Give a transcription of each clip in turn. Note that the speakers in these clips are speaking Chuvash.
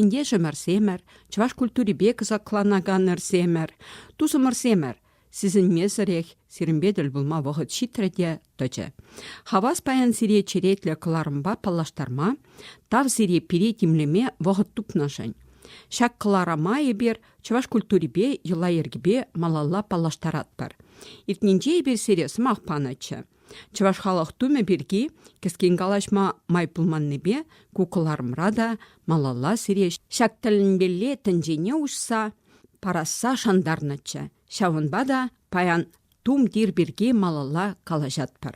Ентешӗмӗрсемӗр, чӑваш культурипе кӑсакланаканӑрсемӗр, тусӑмӑрсемӗр сисӗнмесӗрех сирӗнпе тӗл пулма вӑхӑт ҫитрӗ те тӑчӗ. Хавас паян сире черетлӗ кӑларӑмпа паллаштарма, тав сире пире тимлеме вӑхӑт тупнӑшӑн. Ҫак кӑларӑма эпир чӑваш культурипе йӑла-йӗркипе малалла паллаштаратпӑр. Иртнинче эпир сире сӑмах панӑччӗ. Чӑваш халӑх тумӗ пирки кӗскен калаҫма май пулманнипе ку кӑларӑмра та малалла сире ҫак тӗлӗнмелле тӗнчене уҫса парасса шантарнӑччӗ. Ҫавӑнпа та паян тум тир пирки малалла калаҫатпӑр.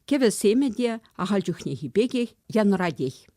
Кӗвӗ семӗ те ахаль чухнехи пекех янӑратех.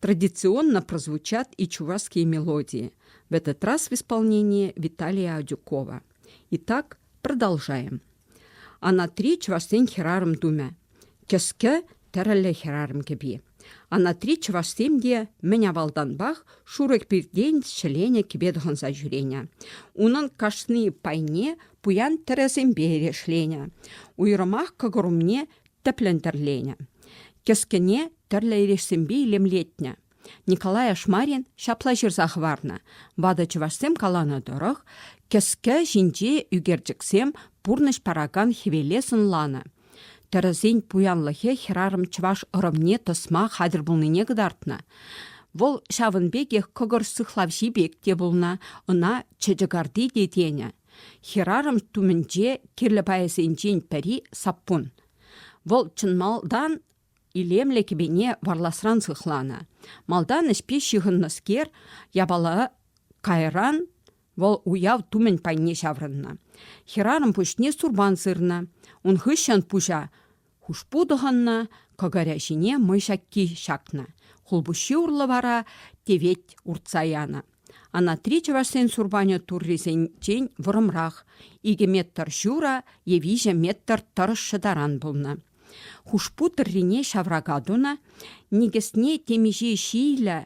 Традиционно прозвучат и чувашские мелодии, в этот раз в исполнении Виталия Адюкова. Итак, продолжаем. Ана три чувашсен хӗрарӑм тумӗ. Кӗске тӗрӗллӗ хӗрарӑм кӗпи. Ана три чувашсем те мӗн авалтанпах шурӑк пиртен ҫӗленӗ кӗпе тӑхӑнса ҫӳренӗ. Унӑн кашни пайне пуян тӗрӗсемпе эрешленӗ. Уйрӑмах кӑкӑр умне тӗплӗн тӗрленӗ. Кӗскене тӗрлӗ эрешсемпе илемлетнӗ. Николай Ашмарин ҫапла ҫырса хӑварнӑ. Ватӑ чӑвашсем каланӑ тӑрӑх, кӗске ҫинче ӳкерчӗксем пурнӑҫ паракан хӗвеле сӑнланӑ. Тӗрӗсен пуянлӑхӗ хӗрарӑм чӑваш ӑрӑмне тӑсма хатӗр пулнине кӑтартнӑ. Вӑл ҫавӑн пекех кӑкӑр сыхлавҫи пек те пулнӑ, ӑна чечекарти те тенӗ. Хӗрарӑм тумӗнче кирлӗ пайӗсенчен пӗри саппун. Вӑл чӑн малтан Илемлӗ кӗпене варласран сыхланӑ. Малтан ӗҫпе ҫыхӑннӑскер япала кайран вӑл уяв тумӗн пайне ҫаврӑннӑ. Хӗрарӑм пуҫне сурпан сырнӑ. Ун хыҫҫӑн пуҫа хушпу тӑхӑннӑ, кӑкӑрӗ ҫине мӑй ҫакки ҫакнӑ. Хулпуҫҫи урлӑ вара тевет уртса янӑ. Анатри чӑвашсен сурпанӗ туррисенчен вӑрӑмрах. икӗ метр ҫура е виҫӗ метр тӑрӑшшӗ таран пулнӑ. Хушпу тӑррине ҫаврака тунӑ, никӗсне темиҫе ҫийлӗ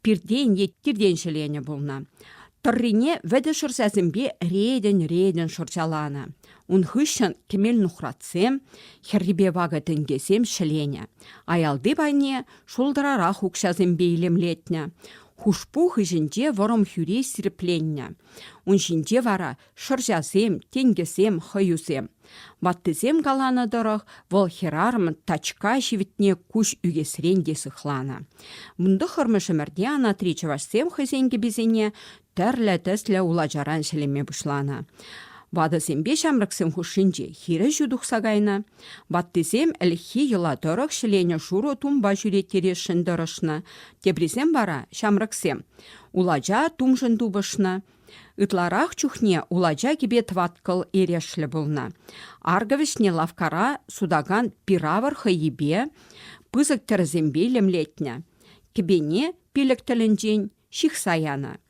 пиртен е тиртен ҫӗленӗ пулнӑ. Тӑррине вӗтӗ шӑрҫасемпе ретӗн-ретӗн шӑрҫаланӑ. Ун хыҫҫӑн кӗмел-нухратсем, хӗррипе вакӑ тӗнкесем ҫӗленӗ. Аялти пайне шултӑрарах укҫасемпе илемлетнӗ. Хушпу хыҫӗнче вӑрӑм хӳре сирпленнӗ. Ун ҫинче вара шӑрҫасем, тенкӗсем, хӑюсем. Ваттисем каланӑ тӑрӑх, вӑл хӗрарӑм тачка ҫивӗтне куҫ ӳкесрен те сыхланӑ. Ун тӑххӑрмӗш ӗмӗрте анатри чӑвашсем хӑйсен кӗписене тӗрлӗ тӗслӗ улачаран ҫӗлеме пуҫланӑ. Ватӑсемпе ҫамрӑксем хушшинче хирӗҫӳ тухса кайнӑ. Ваттисем ӗлӗкхи йӑла тӑрӑх ҫӗленӗ шурӑ тумпа ҫӳреттересшӗн тӑрӑшнӑ, теприсем вара, ҫамрӑксем, улача тумшӑн тупӑшнӑ. Ытларах чухне улача кӗпе тӑваткӑл эрешлӗ пулнӑ. Аркӑ вӗҫне лавккара сутакан пир-авӑр хӑййипе, пысӑк тӗрӗсемпе лемлетнӗ. Кӗпене пилӗк тӗлӗнчен ҫыхса янӑ.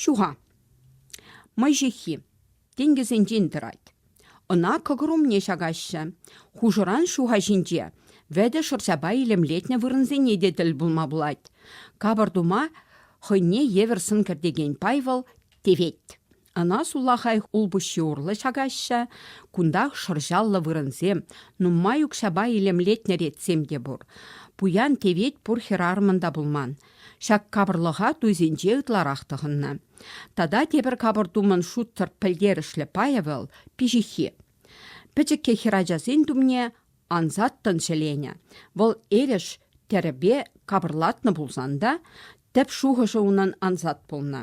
Ҫуха. Мӑй ҫыххи тенкӗсенчен тӑрать. Ӑна кӑкӑр умне ҫакаҫҫӗ. Хушӑран ҫуха ҫинче вӗтӗ шӑрҫапа илемлетнӗ вырӑнсене те тӗл пулма пулать. Капӑр тума хӑйне евӗр сӑн кӗртекен пай вӑл тевет. Ӑна сулахай улпуҫҫи урлӑ ҫакаҫҫӗ. Кунтах шӑрҫаллӑ вырӑнсем, нумай укҫапа илемлетнӗ ретсем те пур. Пуян тевет пур хӗрарӑмӑн та пулман. Ҫак капӑрлӑха туйсенче ытларах тӑхӑннӑ. Тата тепӗр капӑр тумӑн шутсӑр пӗлтерӗшлӗ пайӗ вӑл пиҫиххи. Пӗчӗккӗ хӗрачасен тумне ансаттӑн ҫӗленӗ. Вӑл эреш тӗрӗпе капӑрлатнӑ пулсан та тӗп шухӑшӗ унӑн ансат пулнӑ.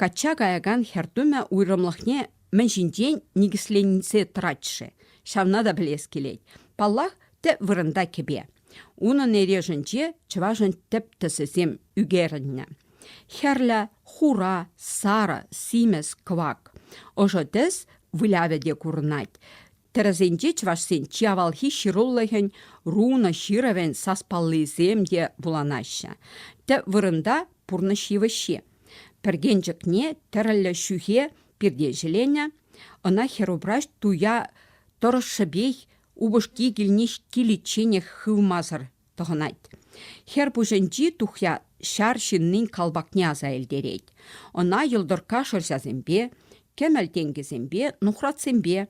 Качча каякан хӗр тумӗ уйрӑмлӑхне мӗн ҫинчен никӗсленсе тӑрать-ши, ҫавна та пӗлес килет. Паллах, тӗп вырӑнта кӗпе. Унӑн эрешӗнче чӑвашӑн тӗп тӗсӗсем ӳкерӗннӗ. Хӗрлӗ, хура, сарӑ, симӗс, кӑвак. Ӑшӑ тӗс вылявӗ те курӑнать. Тӗрӗсенче чӑвашсен чи авалхи ҫырулӑхӗн, рунӑ ҫырӑвӗн саспаллисем те вуланаҫҫӗ. Тӗп вырӑнта пурнӑҫ йывӑҫҫи. Пӗркенчӗкне тӗрӗллӗ ҫӳхе пирте ҫӗленӗ, ӑна хӗрупраҫ туя тӑрӑшшӗпех упӑшки килне киличченех хывмасӑр тӑхӑнать. Хӗр пуҫӗнчи тухья ҫар ҫыннин калпакне аса илтерет. Ӑна йӑлтӑркка шӑрҫасемпе, кӗмӗл тенкӗсемпе, нухратсемпе,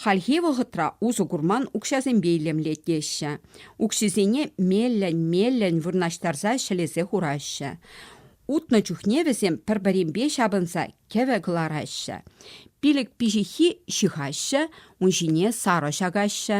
хальхи вӑхӑтра усӑ курман укҫасемпе илемлет теҫҫӗ. Укҫисене меллӗн-меллӗн вырнаҫтарса ҫӗлесе хураҫҫӗ. Утнӑ чухне вӗсем пӗр-пӗринпе ҫапӑнса кӗвӗ кӑлараҫҫӗ. Пилӗк пиҫиххи ҫыхаҫҫӗ, ун ҫине сарӑ ҫакаҫҫӗ.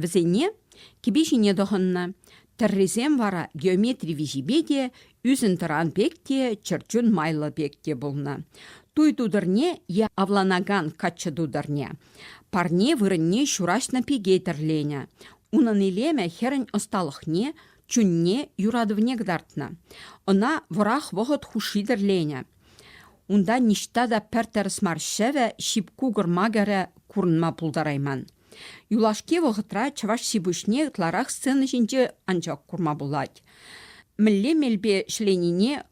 Вӗсене кӗпе ҫине тӑхӑннӑ, тӗррисем вара геометри виҫипе те, ӳсентӑран пек те, чӗрчун майлӑ пек те пулнӑ. Туй тутӑрне е авланакан каччӑ тутӑрне, парне вырӑнне ҫураҫнӑ пике тӗрленӗ. Унӑн илемӗ хӗрӗн ӑсталӑхне, чунне, юратӑвне кӑтартнӑ. Ӑна вӑрах вӑхӑт хушши тӗрленӗ. Унта ниҫта та пӗр тӗрӗс мар ҫӗвӗ, ҫип-кукӑр макӑрӗ курӑнма пултарайман. Юлашки вӑхӑтра чӑваш ҫипуҫне ытларах сцена ҫинче анчах курма пулать. Мӗнле мелпе ҫӗленине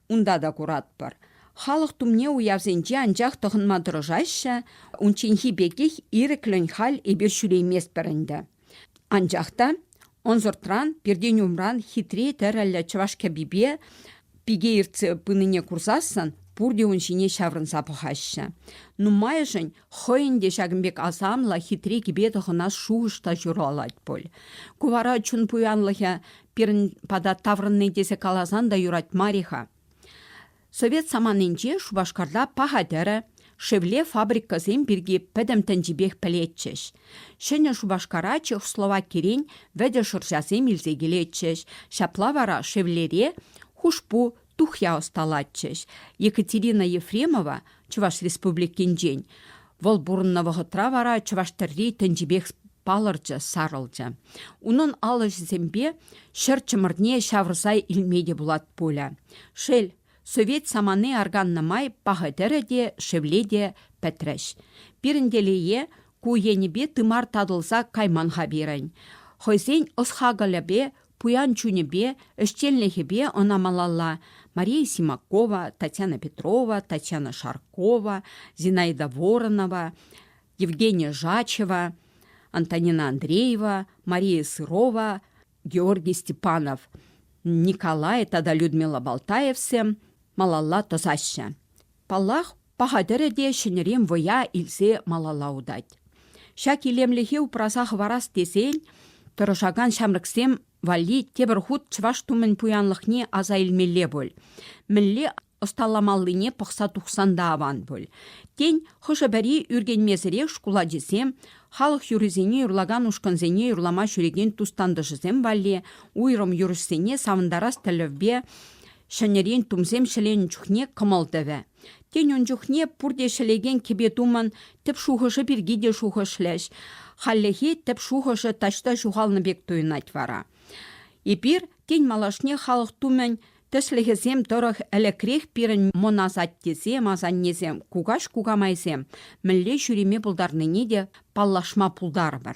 унта та куратпӑр. Халӑх тумне уявсенче анчах тӑхӑнма тӑрӑшаҫҫӗ, унчченхи пекех ирӗклӗн халь эпир ҫӳрейместпӗр ӗнтӗ. Анчах та ӑнсӑртран, пиртен умран хитре тӗрӗллӗ чӑваш кӗпипе пике ертсе пынине курсассӑн пурте ун ҫине ҫаврӑнса пӑхаҫҫӗ. Нумайӑшӗн Хӑйӗн те ҫакӑн пек асамлӑ, хитре кӗпе тӑхӑнас шухӑш та ҫуралать пуль. Ку вара чун пуянлӑхӗ пирӗн пата таврӑнни тесе каласан та юрать мар-и-ха? Совет саманинче Шупашкарта паха тӗрӗ, шевле фабрикӑсем пирки пӗтӗм тӗнчипех пӗлетчӗҫ. Ҫӗнӗ Шупашкара Чехословакирен вӗтӗ шӑрҫасем илсе килетчӗҫ. Ҫапла вара шевлере хушпу, тухья ӑсталатчӗҫ. Екатерина Ефремова Чӑваш Республикинчен. Вӑл пурӑннӑ вӑхӑтра вара чӑваш тӗрри тӗнчипех палӑрчӗ, сарӑлчӗ. Унӑн ал ӗҫӗсемпе ҫӗр чӑмӑрне ҫавӑрса илме те пулать пулӗ. Шел, совет самани арканнӑ май пахӑ тӗрӗ те, шевле те пӗтрӗҫ. Пирӗн телее, ку енӗпе тымар татӑлса кайман-ха пирӗн. Хӑйсен ӑс-хакӑлӗпе Пуян чунӗпе, ӗҫченлӗхӗпе ӑна малалла Мария Симакова, Татьяна Петрова, Татьяна Шаркова, Зинаида Воронова, Евгения Жачева, Антонина Андреева, Мария Сырова, Георгий Степанов, Николай тата Людмила Балтаевсем малалла тӑсаҫҫӗ. Паллах, Паха тӗрӗ те ҫӗнӗрен вӑя илсе малалла утать. Ҫак илемлӗхе упраса хӑварас тесен тӑрӑшакан ҫамрӑксем валли тепӗр хут чӑваш тумӗн пуянлӑхне аса илмелле пуль. Мӗнле ӑсталамаллине пӑхса тухсан та аван пуль. Тен, хӑшӗ-пӗри ӳркенмесӗрех шкул ачисем, халӑх юррисене юрлакан ушкӑнсене юрлама ҫӳрекен тус-тантӑшӗсем валли уйрӑм юрӑҫсене савӑнтарас тӗллевпе ҫӗнӗрен тумсем ҫӗленӗ чухне кӑмӑл тӑвӗ. Тен, ун чухне пурте ҫӗлекен кӗпе-тумӑн тӗп шухӑшӗ пирки те шухӑшлӗҫ. Хальлӗхе тӗп шухӑшӗ таҫта ҫухалнӑ пек туйӑнать вара. Эпир, тен, малашне халӑх тумӗн тӗслӗхӗсем тӑрӑх ӗлӗкрех пирӗн мӑнасаттесем, асаннесем, кукаҫ-кукамайсем мӗнле ҫӳреме пултарнине те паллашма пултарӑпӑр.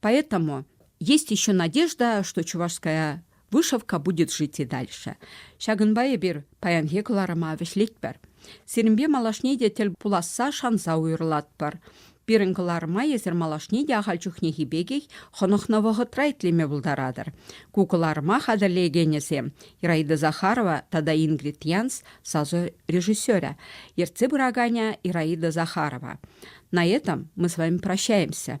Поэтому есть еще надежда, что чувашская вышивка будет жить и дальше. Ҫакӑнпа эпир паянхи кӑларӑма вӗҫлетпӗр. Сирӗнпе малашне те тӗл пуласса шанса уйӑрлатпӑр. Пирӗн кӑларӑма эсир малашне те ахаль чухнехи пекех хӑнӑхнӑ вӑхӑтра итлеме пултаратӑр. Ку кӑларӑма хатӗрлекенӗсем Ираида Захарова тата Ингрид Янс сасӑ режиссерӗ, ертсе пыраканӗ Ираида Захарова. На этом мы с вами прощаемся.